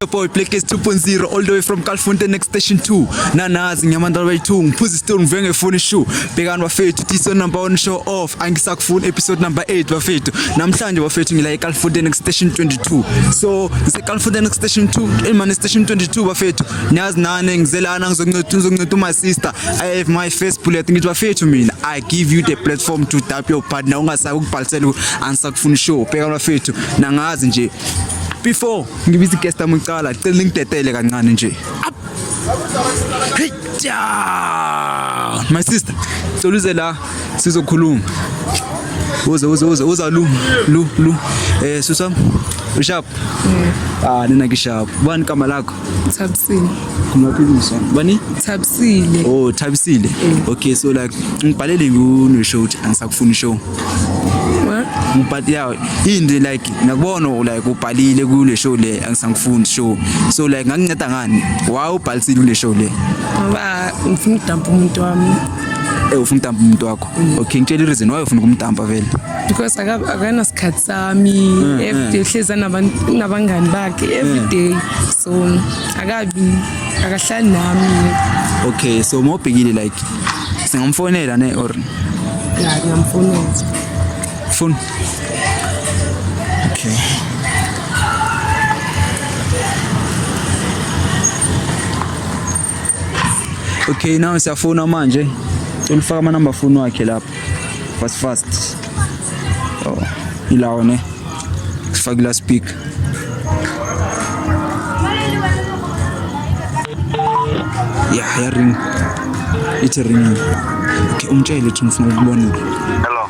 Your boy Black is 2.0 all the way from Calfonte next station 2 nanazi ngyamandala way 2 ngiphuza stone ngivuke ngefuni shoe bhekani bafethu this one number 1 show off angisakufuni episode number 8 bafethu namhlanje bafethu ngila eCalfonte next station 22 so ngise Calfonte next station 2 in my station 22 bafethu nyazi nane ngizelana ngizoncethu ngizoncethu my sister i have my first bullet ngithi bafethu mina i give you the platform to tap your partner ungasakubhalisela ansakufuni show bhekani bafethu nangazi nje before ngibiza igesta mucala cela ngidedele kancane nje my sister cela uze la sizokhuluma uze uze uze uza lu lu lu eh susam ushap ah nina ngishap bani kama lakho thabisile kumaphilisa bani thabisile oh thabisile eh. okay so like ngibhalele ngu no show angisakufuni show what ngibhati yawo into like ngiyakubona like ubhalile kule show le angisangifundi show so like ngakunceda ngani why ubhalisile kule show le ngoba ngifuna ukudampa umuntu wami eh ufuna ukudampa umuntu wakho mm. okay ngitshela reason why ufuna ukumdampa vele because akana sikhathi sami mm, everyday mm. uhleza nabantu nabangani bakhe everyday so akabi akahlali nami okay so mobhekile like singamfonela ne or yeah ngamfonela phone Okay. Okay, now siyafuna manje. Ulifaka ama number phone wakhe lapha. Fast fast. Oh, ilawo ne. Sifake la speak. Yeah, ya ring. It's a ring. Okay, umtshele ukuthi ngifuna ukubona. Hello.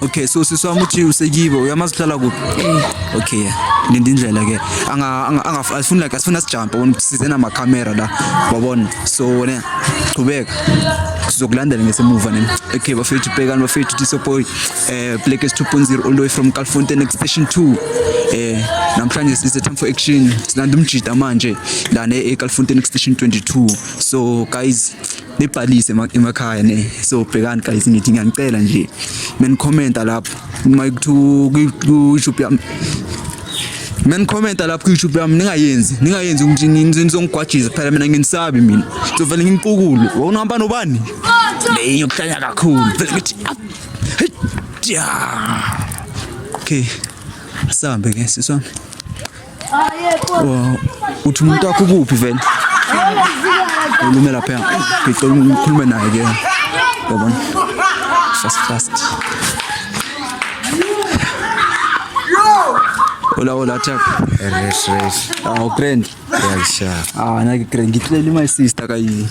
okay so sisi wami uthi usekibo uyamazi uhlala kuphi eh. okay linda indlela ke angafuni like asifuni asijampe wona size namakhamera la wabona so wena qhubeka sizokulandela ngesemuva nini okay bafethu bhekani bafethu tisopoy eh black is 2.0 all the way from Calfontaine extension 2 eh namhlanje sise time for action silanda umjita manje la ne eCalfontaine extension 22 so guys bebhalise emakhaya ne so bhekani guys ngithi ngiyangicela nje men commenta lapho uma kuthiwa ku YouTube yami men commenta lapho ku YouTube yami ningayenzi ningayenzi ukuthi nizongigwajisa kuphela mina nginisabi mina ngizovele ngimpukulo wawunohamba nobani leyo yokuhlanya kakhulu vele ngithi ah, okay asambe ke siswami uthi umuntu wakho kuphi vele ulume lapha ngicela ngikhulume naye ke yabona fast fast Hola, hola, Chuck. Yes, yes. Ah, oh, grand. Yeah, sure. Ah, na grand. Ngitlela my sister kayi.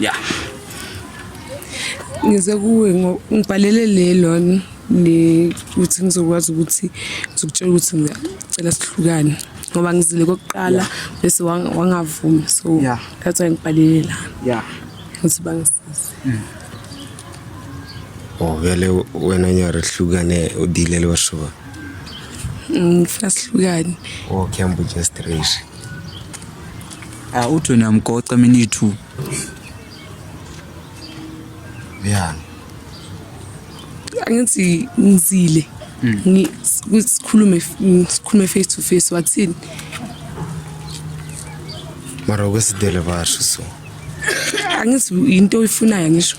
ya ngize kuwe ngibhalele le lona le ukuthi ngizokwazi ukuthi ngizokutshela ukuthi ngicela sihlukane ngoba ngizile kokuqala bese wangavumi so that's why ngibhalele la ya ukuthi bangisize mm. oh vele wena nyara hlukane udile loshuba ngifuna sihlukane okay ambuja straight Ah uthi wena mgoca mina ithu. Yeah. Angithi ngizile. Mm. Ngi sikhulume sikhulume face to face wathini? Mara kwesidele basho so. Angithi into oyifunayo ngisho.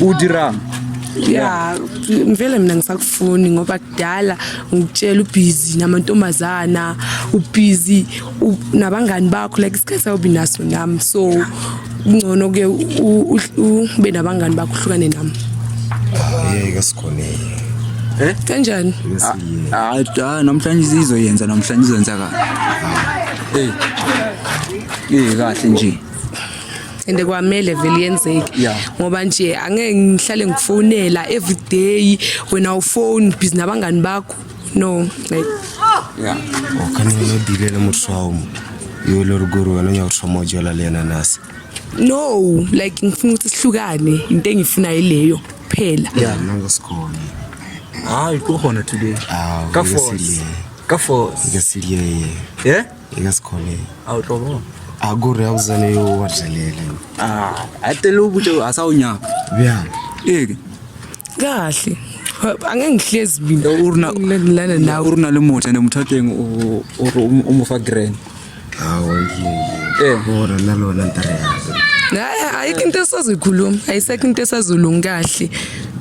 udirang ya ngivele mina ngisakufuni ngoba kudala ngikutshela ubhizi namantombazana ubhizi nabangani bakho like isikhathi awubi naso nami so kungcono ke ube nabangani bakho uhlukane nami yeke sikhonile eh kanjani hayi ah, ah, namhlanje izizwe yenza namhlanje izenza kahle eh eh kahle nje and kwamele vele yenzeke Yeah. ngoba nje angeke ngihlale ngifonela every day wena ufone busy nabangani bakho no like Yeah. o kana o dilela motho wa mo yo le rugo ro wena ya go thoma jola le yena nase no like ngifuna ukuthi sihlukane into engifuna yileyo kuphela ya nna go se kgone hayi ko gona today Ah, ka o ka se force le. ka force ka se le ye yeah Eka sikhone. A u tlobo. A ku re a uzane yo wa dlalela. Ah, a tele u bute a sa u nyaka. Bya. Eke. Kahle. Angeke ngihlezi mina urina ngilana nawe urina le mota nemuthatheng o o o mo fa grand. Hawu yini. Eh, ora nalona ntare yazi. Hayi ayikho into esazikhuluma, ayisekho into esazolunga kahle.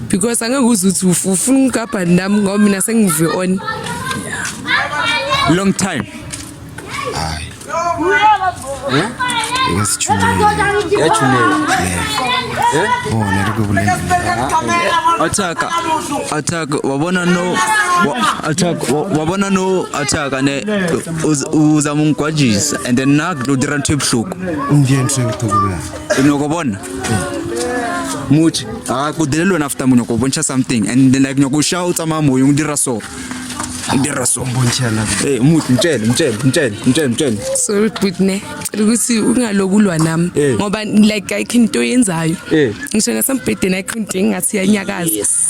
because angeke uze uthi uf- ufuna ukugabha nami ngoba mina sengive on long time hayi yachunela bona likubulengile attack attack wabona no wa- attack wa- wabona no attack ane uz- uzama ungigwajisa and then nakudira ntho ebuhlungu umndeni sengithukubulana Inoko bona. Much. Ah, ku dele lona after munoko boncha something and then like nyoko shout ama moyo ngidira so. Ngidira so. Bonchana. Eh, much mtshele, mtshele, mtshele, mtshele, mtshele. Sorry Britney. Cela ukuthi ungalokulwa nami Eh. ngoba like ayikho into yenzayo. Eh. Ngisho nasembhedeni ayikho into engathi yanyakaza. Yes.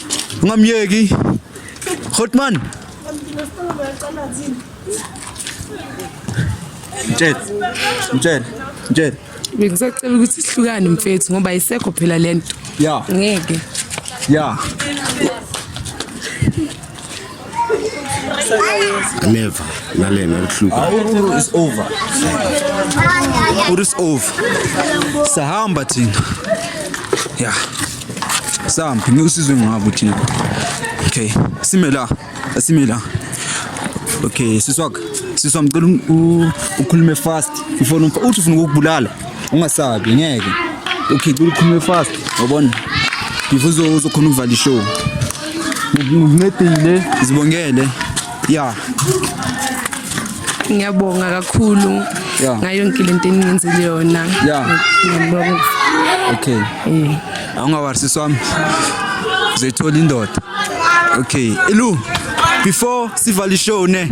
Ungamyeki. Hotman. Mtshele. Mtshele. Mtshele. Ngikusacela ukuthi sihlukane mfethu ngoba isekho phela lento. Yeah. Ngeke. Yeah. Never. Nalena lihlupha. Awuru is over. Awuru is over. Sahamba thina. Yeah. Sampi ngiusizwe ngabo thina. Okay. Sime la. Sime la. Okay, siswak. Siswa ngicela ukhulume fast. Ufona uthi ufuna ukubulala. ungasabi ngeke ukhice ulikhulume fast wabona before uzokhona ukuvala ishow ngincedile zibongele ya ngiyabonga kakhulu ngayo yonke lento eningenzele yona ngiyabonga okay eh. awungawarisi swami uzoyithola indoda okay ilu before sivale ishow ne